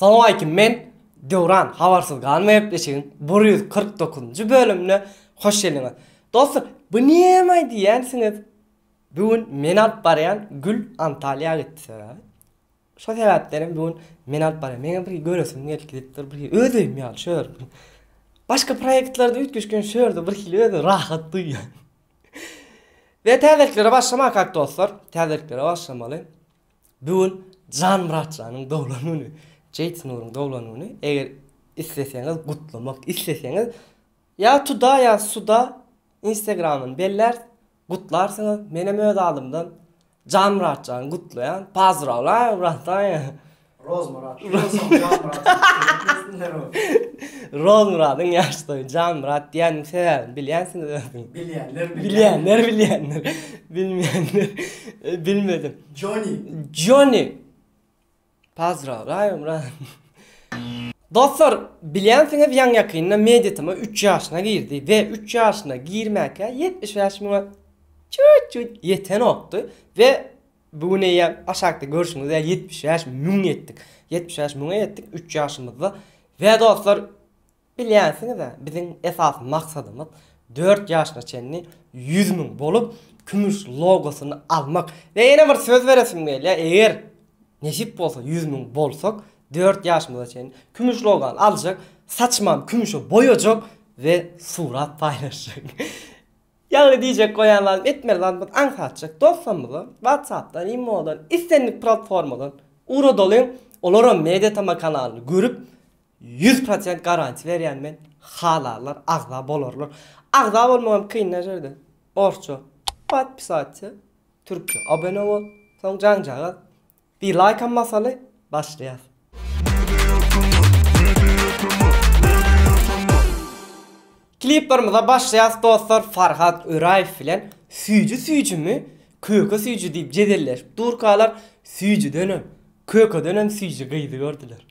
Salowmaleýkim men Döwran habarsyz galma gepleşigiň bir ýüz kyrk dokuzynjy bölümine hoş geldiňiz. Dostlar bu nämaý diýýänsiňiz bu gün men alyp barýan Gül Antalýa gitdi sebäbi şo sebäpden hem bu gün men alyp barýan meňem bir göresim gelip gidip dur bir öz öýüm ýaly şu ýer başga proýektlarda üýtgeşgen şu ýerde bir hili özümi rahat duýýan. Ve täzeliklere başlamakak dostlar täzeliklere başlamaly. Bu gün Jan Myratjanyň doglan güni, Jeýt Nuryň doglan güni. Eger isleseňiz gutlamak isleseňiz ýa tuda ýa suda instagramyny bellärs gutlarsyňyz. Menem öz adymdan Jan Myratjany gutlaýan. Pazdrawlaýu bratany. Rozmyrat. Rozmyradyň ýaş toýy Janmyrat diýen sebäbini bilýänsiňiz özüňiz. Bilýänler bilýänler. Bilýänler bilýänler. Bilmeýänler bilmedim. Joni. Joni. Pazra, raýom, raýom. Dostlar, bilýänsiňiz ýaň ýakynda Meditama 3 ýaşyna girdi we 3 ýaşyna girmäkä 75 müňe çüt-çüt ýetenokdy we Bu gün eýýäm aşakda görşüňiz ýaly ýetmiş bäş müň ýetdik. Ýetmiş bäş müňe ýetdik üç ýaşymyzda. We dostlar, bilýänsiňiz-ä, biziň esasy maksadymyz dört ýaşyna çenli ýüz müň bolup, kümüş logosyny almak. We ýene bir söz beresim gelýär, eger nesip bolsa ýüz müň bolsak, dört ýaşymyza çenli kümüş logany aljak, saçymam kümüşe boýajak we surat paýlaşjak. Ýagny diýjek goýan zadym etmeli zadymy aňsatjak dostlarymyza WhatsAppdan, imodan, islendik platformadan ugradalyň, olaram Mediatama kanalyny görüp ýüz prosent garantiýa berýän men, halarlar agza bolarlar. Agza bolmagam kyn däl şeýle orsça Podpisatsia, türkçe Abone bol, soň jaňjagaz Bir laýkam basaly başlaýas. Kliplarymyza başlaýas dostlar Farhat Öraýew bilen süýji süýjimi köke süýji diýip jedelleşip durkalar süýjüdenem kökedenem süýji gyzy gördüler.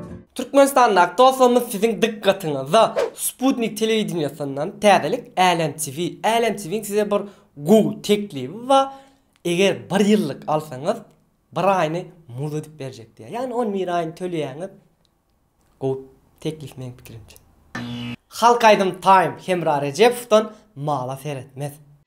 Türkmenistandaky dostlarymyz siziň dykgatyňyza Sputnik telewideniýesinden täzelik Älem TV. Älem TV-iň size bir gowy teklibi bar. Eger bir ýyllyk alsaňyz, bir aýyny mugt edip berjek diýýär. Ýagny on bir aýyny töleýäňiz. Gowy teklip meň pikirimçe. Halk aýdym Time Hemra Rejepowdan mala seretmez.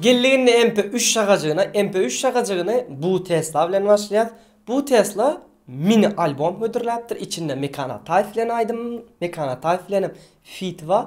Geldik indi MP3 şagajygyna. MP3 şagajygyny Bu Tesla bilen başlaýas. Bu Tesla mini albom hödürläpdir. Içinde Mekan Ataýew bilen aýdym, Mekan Ataýew bilen hem feat bar.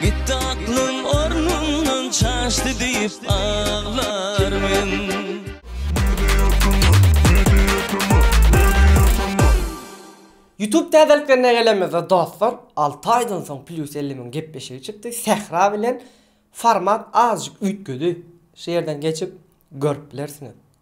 Gitdi aklym ornundan çaşdy diýip aglar men. Youtube täzeliklerine gelenimizde dostlar, alty aýdan soň Plus elli müň gepleşigi çykdy, Sähra bilen format azajyk üýtgedi, şu ýerden geçip görüp bilersiňiz.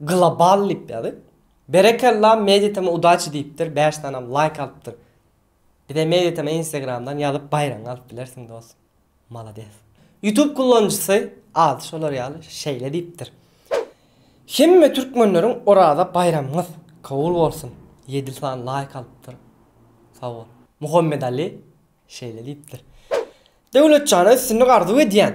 Global lip ýaly. Berekella Meditama udaçi diýipdir bäş sanam laýk alypdyr. Bize Meditama instagramdan ýazyp baýragyňy alyp bilersiň dos. Malades. Youtube kullanjysy ady şolar ýaly şeýle diýipdir. Hemme türkmenleriň Oraza baýramyňyz kowul bolsun ýedi san laýk alypdyr. Sag bol. Muhammedali şeýle diýipdir. Döwletjana üstünlik arzuw edýän.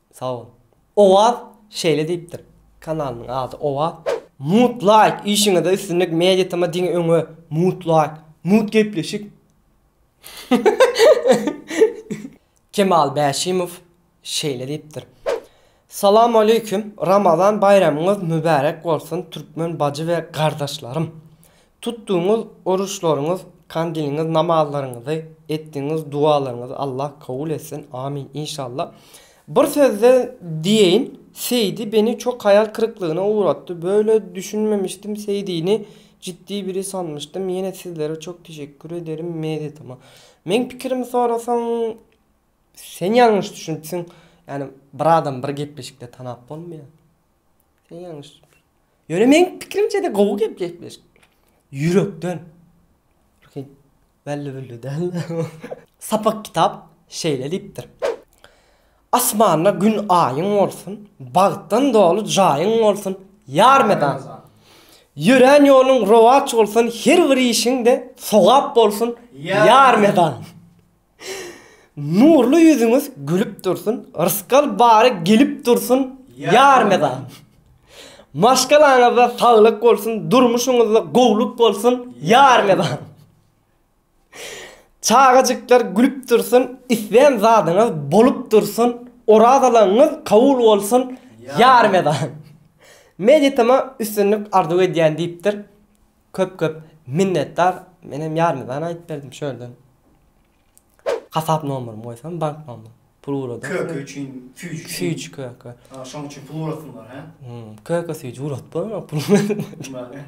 Sag bol. Owaz şeýle diýipdir. Kanalynyň ady Owaz. Mut laýk işiňizde üstünlik media tm diňe öňe mut laýk mut gepleşik. Kemal Bäşimow şeýle diýipdir. Salam aleýkum Ramazan baýramyňyz mübärek bolsun türkmen bajy we gardaşlarym. Tutduňyz oruşlaryňyz kandiliňiz namazlaryňyzy etdiňiz dualaryňyzy Allah kabul etsin amin inşalla bir sözde diýeýin Seýdi beni çok haýal kyryklygyna ugratdy böyle düşünmemişdim Seýdini ciddi biri sanmyşdym ýene sizlere çok teşekkür ederim medytama meň pikirimi sorasaň sen ýalňyş düşünipsiň ýani bir adam bir gepleşikde tanap bolmaýar. Sen ýalňyş. Ýöne meň pikirimçe-de gowy gep gepleşik. Ýürekden. Ruhy. Belli billi däl. Sapak kitap şeýle diýipdir. Asmanda gün aýyň bolsun, bagtdan doly jaýyň bolsun, ýar medan! Ýörän ýoluň rowaç bolsun, her bir işiň-de sogap bolsun, ýar medan! Nurly ýüzüňiz gülüp dursun, rysgal bary gelip dursun ýar mydam. Maşgalaňyzda saglyk bolsun, durmuşyňyzda gowluk bolsun ýar mydam. Çagajyklar gülüp dursun, islän zadyňyz bolup dursun, orazalaňyz kabul bolsun ýar mydam. Meditama üstünlik arzuw edýän diýipdir. Köp köp minnetdar menem ýarymydan aýdyp berdim şu ýerden hasap nomerymy goýsam bank nomerymy pul ugradyň Köke üçin süýji üçin süýji köke a şoň üçin pul ugrasyňlar hä köke süýji ugradyp bolma pul bilen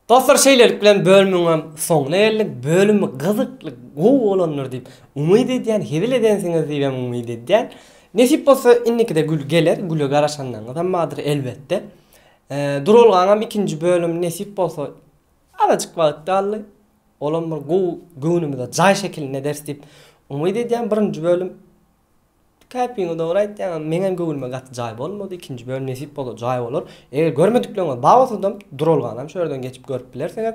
Dostlar şeýlelik bilen bölümiňem soňuna geldik bölümi gyzykly gowy bolandyr diýip umyt edýän hezil edensiňiz diýibem umyt edýän nesip bolsa indikide gül geler güle garaşanlaryňyzam bardyr elbetde Duralgaňam ikinji bölüm nesip bolsa azajyk wagt galdy. Olam bir gowy göwnümize jaý şekilinde ederis diýip umyt edýän. Birinji bölüm käpiňi dogry aýtýaň meňem göwnüme gaty jaý bolmady. Ikinji bölüm nesip bolsa jaý bolar. Eger görmedikleriňiz bar bolsadam Duralganam şu ýerden geçip görüp bilersiňiz.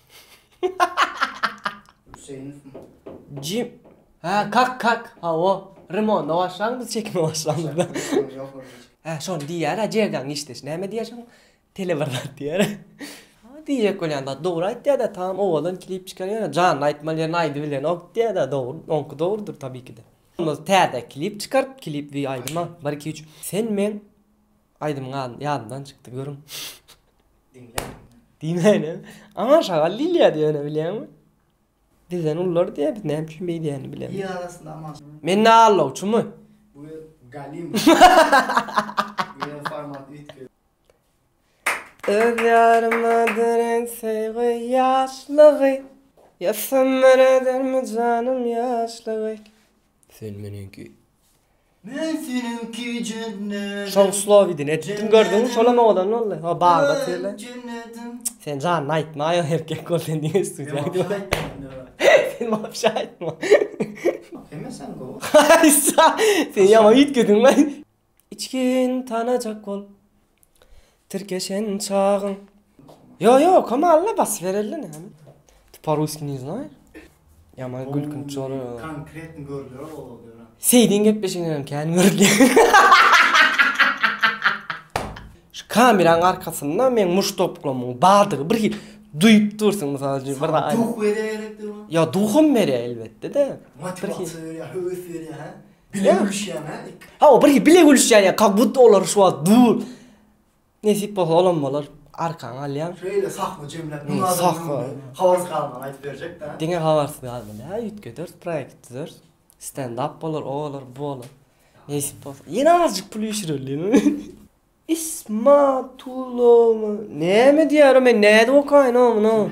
Jim Hä kak kak hawa remonda başlan biz çekime başlandyda. Hä şony diýýär hä jerden giçdeş näme diýýär şoň tele bir zat diýýär. Hä diýjek bolýan zat dogry aýtýada tamam owadan klip çykarýar ýöne janly aýtmaly ýerini aýdyp bilenok diýýada dogry oňky dogrudyr tabiki de. Onda täze klip çykart klip we aýdyma bir iki üç sen men Aýdymyň ady ýadymdan çykdy görüň. Diýmäýle. Aman şagal diýilýärdi ýöne bilýäňmi? Bizden ulylar diýýär biz näme üçin beý diýýänini bilemok. Il arasynda Aman şagal. Men ne allawçymy? Bu gel galim. Ýöne format üýtgedi. Öz ýaryma derek söýgi ýaşlygy. Ýa sömür edermi janym ýaşlygy. Sen meniňki. Men seniňki jennedim. Şoň slowy din etdim gördüňmi şolam oglan boldy. O bagda söyle. Sen janyny aýtma aýal erkek bol sen diňe studiýa git. Sen wapşe aýtma. Hemmesem gowy. Sen ýaman üýtgediň lan. Içgin tanajak bol tirkeşen çagyň. Ýo ýo okama alla basyp bereli näme. Ty po russki ne znay. Ýaman gülkünç bolar o. Konkretny görler bolal döne. Seýdiň gepleşiginem kän görülýär. Şu kameraň arkasynda meň muş toplamyň bardygy bir hil duýup dursyň mysal üçin bir zat aýt. Sana duh berýär gerekdir. Ýo duhum berýär elbetde-de. Motiwasiýa berýär, höwes berýär hä. Bile gülüşýän ha. Ha o bir bile gülüşýän ya. Kak but olar şu wagt dur. Nesip bolsa olam bolar. Arkan alýan. Şöyle sahwa jemläp. Hmm, sahwa. Hawarsy galman aýdyp berjek da. Diňe hawarsy galman. Ha ýütgeder proýekt düzer. Stand up bolar, o bolar, bu bolar. Nesip bolsa. Ýene azjyk pul ýüşüreli. Ismatulowy näme diýýär o men nädip okaýyn oňa muny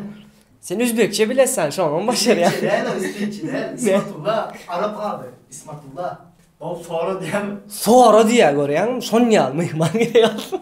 sen üzbekçe bilesan şoňam başarýan. Üzbekçe däl o isfeççe däl ismatulla arap ady ismatulla bolup sora diýýärmi. Sora diýýär görýäňmi şon ýaly myhman gerek alsyn.